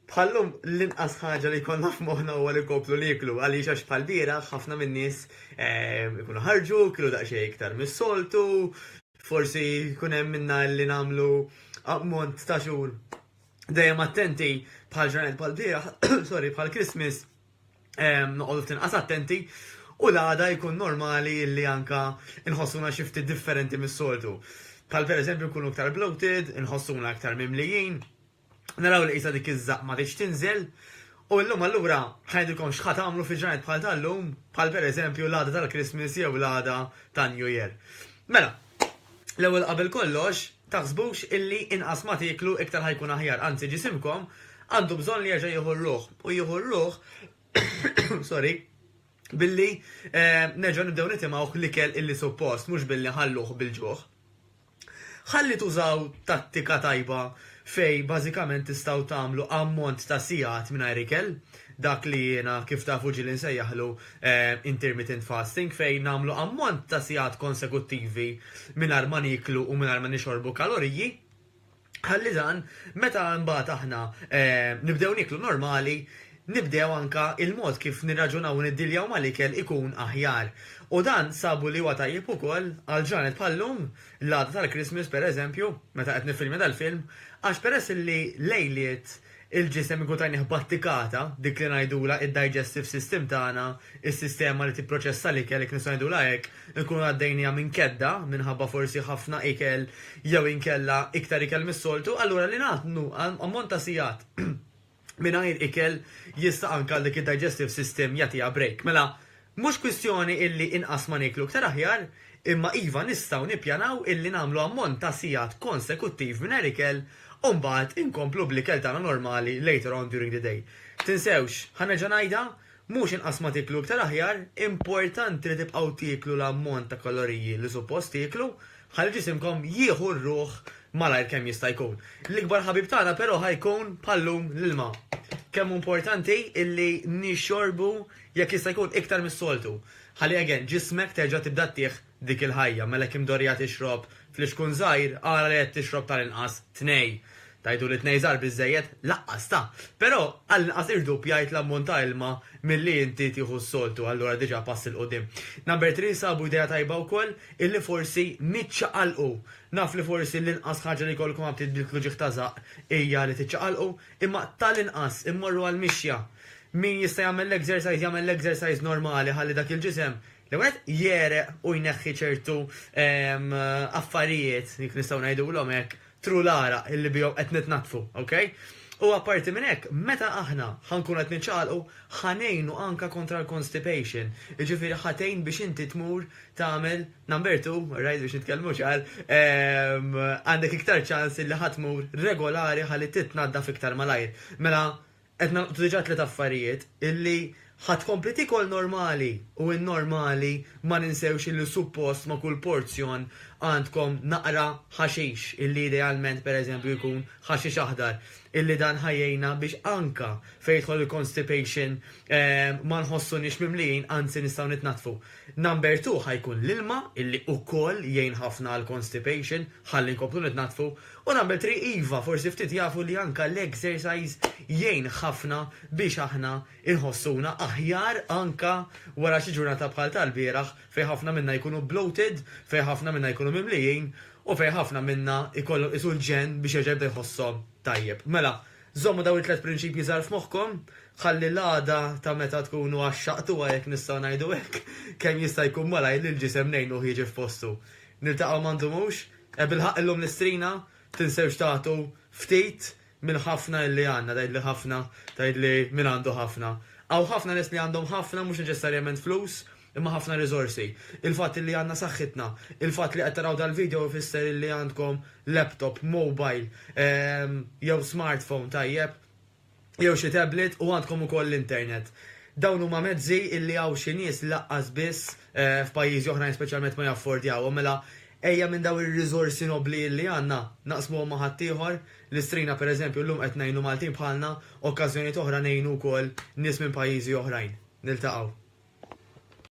Bħallum l-inqas ħaġa li jkollna f'moħħna huwa li nkomplu nieklu għaliex għax bħal bieraħ ħafna min-nies ehm, ikunu ħarġu, kienu daqsxejn iktar mis-soltu, forsi jkun hemm minna li nagħmlu ammont ta' xhur dejjem attenti bħal ġranet bħal bieraħ, sorry, bħal Christmas noqogħdu ftit inqas attenti u l-għada jkun normali li anke nħossuna xi ftit differenti mis-soltu. Bħal pereżempju nkunu iktar bloated, inħossuna iktar mimlijin, naraw li qisha dik iż-żaqq ma tridx tinżel, u illum allura ħa ngħidilkom x'ħa tagħmlu fi ġranet bħal tal-lum, bħal pereżempju l-għada tal-Christmas jew l-għada tan-New Year. Mela, L-ewwel qabel kollox, taħsbux illi inqas ma tieklu iktar ħa jkun aħjar, anzi ġisimkom għandu bżonn li jerġa' jieħu r-ruħ u jieħu r-ruħ sorry, billi nerġgħu nibdew nitimgħuh l-ikel illi suppost mhux billi nħalluh bil-ġuħ. Ħalli tużaw tattika tajba fejn bażikament tistgħu tagħmlu ammont ta' sigħat mingħajr ikel, dak li jiena kif tafu ġieli nsejjaħlu intermittent fasting fejn nagħmlu ammont ta' sigħat konsekuttivi mingħajr ma nieklu u mingħajr ma nixorbu kaloriji, ħalli dan meta imbagħad aħna nibdew nieklu normali nibdew anke l-mod kif nirraġunaw u niddiljaw mal-ikel ikun aħjar. U dan sabu li huwa tajjeb ukoll għal ġranet bħal-lum l-għada tal-Christmas pereżempju, meta qed niffilmja dal-film, għax peress li lejliet il-ġisem inkun tajnieh battikata, dik li ngħidulha id-digestive system tagħna, is-sistema li tipproċessa l-ikel jekk nistgħu ngħidulha hekk, inkunu għaddejniha minn kedda minħabba forsi ħafna ikel jew inkella iktar ikel mis-soltu, allura li nagħtnu ammont ta' sigħat, mingħajr ikel jista' anke għal dik id-digestive system jagħtiha break. Mela, mhux kwistjoni illi inqas ma nieklu iktar aħjar, imma iva nistgħu nippjanaw illi nagħmlu ammont ta' sigħat konsekuttiv mingħajr ikel u mbagħad inkomplu bl-ikel tagħna normali later on during the day. Tinsewx, ħa nerġa' ngħidha, Mhux inqas ma tieklu iktar aħjar, importanti li tibqgħu tieklu l-ammont ta' kaloriji li suppost tieklu ħalli ġisimkom jieħu r-ruħ malajr kemm jista' jkun. L-ikbar ħabib tagħna però ħa jkun bħal-lum l-ilma. Kemm hu importanti illi nixorbu jekk jista' jkun iktar mis-soltu ħalli again ġismek terġa' tibda ttih dik il-ħajja, mela jekk imdorrija tixrob flixkun żgħir, ara li qed tixrob tal-inqas tnej. Tgħidu li tnej żgħar biżżejjed? Laqqas ta! Però għall-inqas irdupjajt l-ammont ta' ilma milli inti tieħu s-soltu, allura diġà pass 'il quddiem. Number Three sabu idea tajba wkoll, illi forsi niċċaqalqu. Naf li forsi l-inqas ħaġa li jkollkom għal ftit bil-klu ġieħ ta' żaqq hija li tiċċaqalqu, imma tal-inqas immorru għall-mixja. Min jista' jagħmel l-exercise jagħmel l-exercise normali ħalli dak il-ġisem L-ewwel nett, jegħreq u jneħħi ċertu affarijiet, jekk nistgħu ngħidulhom hekk, tru l-għaraq illi bihom qed nitnaddfu, okej? U apparti minn hekk, meta aħna ħa nkunu qed niċċaqalqu, ħa ngħinu anke kontra l-constipation, jiġifieri ħa tgħin biex inti tmur tagħmel number two, alright, biex nitkellmu ċar, għandek iktar ċans illi ħa tmur regolari ħalli titnaddaf iktar malajr. Mela, Qed nagħlqtu diġà tliet affarijiet, illi ħa tkompli tiekol normali u n-normali ma ninsewx illi suppost ma' kull porzjon għandkom naqra ħaxix illi idealment pereżempju jkun ħaxix aħdar illi dan ħa jgħinna biex anke fejn jidħol il-constipation ma nħossuniex mimlijin anzi nistgħu nitnaddfu. Number two ħa jkun l-ilma illi wkoll jgħin ħafna għall-constipation ħalli nkomplu nitnaddfu U nagħmel triq iva, forsi ftit jafu li anke l-exercise jgħin ħafna biex aħna nħossuna aħjar anke wara xi ġurnata bħal tal-bieraħ fejn ħafna minna jkunu bloated, fejn ħafna minna jkunu mimlijin u fejn ħafna minna jkollhom qisu l-ġenn biex jerġa' jibda jħosshom tajjeb. Mela, żommu dawn it-tliet prinċipji żgħar f'moħħkom ħalli l-għada ta' meta tkunu għaxxaqtuha jekk nistgħu ngħidu hekk, kemm jista' jkun malajr lill-ġisem ngħinuh jiġi f'postu. Niltaqgħu ma ndumux? E bilħaqq illum l-istrina, tinsewx tagħtu ftit mill-ħafna illi għandna, tgħidli ħafna, tgħidli min għandu ħafna. Hawn ħafna nies li għandhom ħafna mhux neċessarjament flus, imma ħafna riżorsi. Il-fatt illi għandna saħħitna, il-fatt li qed taraw dal-video ifisser illi għandkom laptop, mobile, jew smartphone tajjeb, jew xi tablet u għandkom ukoll l-internet. Dawn huma mezzi illi hawn xi nies lanqas biss f'pajjiżi oħrajn speċjalment ma jaffordjawhom. Mela ejja minn dawn ir-riżorsi nobbli illi għandna, naqsmuhom ma' ħaddieħor, lil strina pereżempju llum qed ngħinu Maltin bħalna, okkażjonijiet oħra ngħinu wkoll nies minn pajjiżi oħrajn. Niltaqgħu.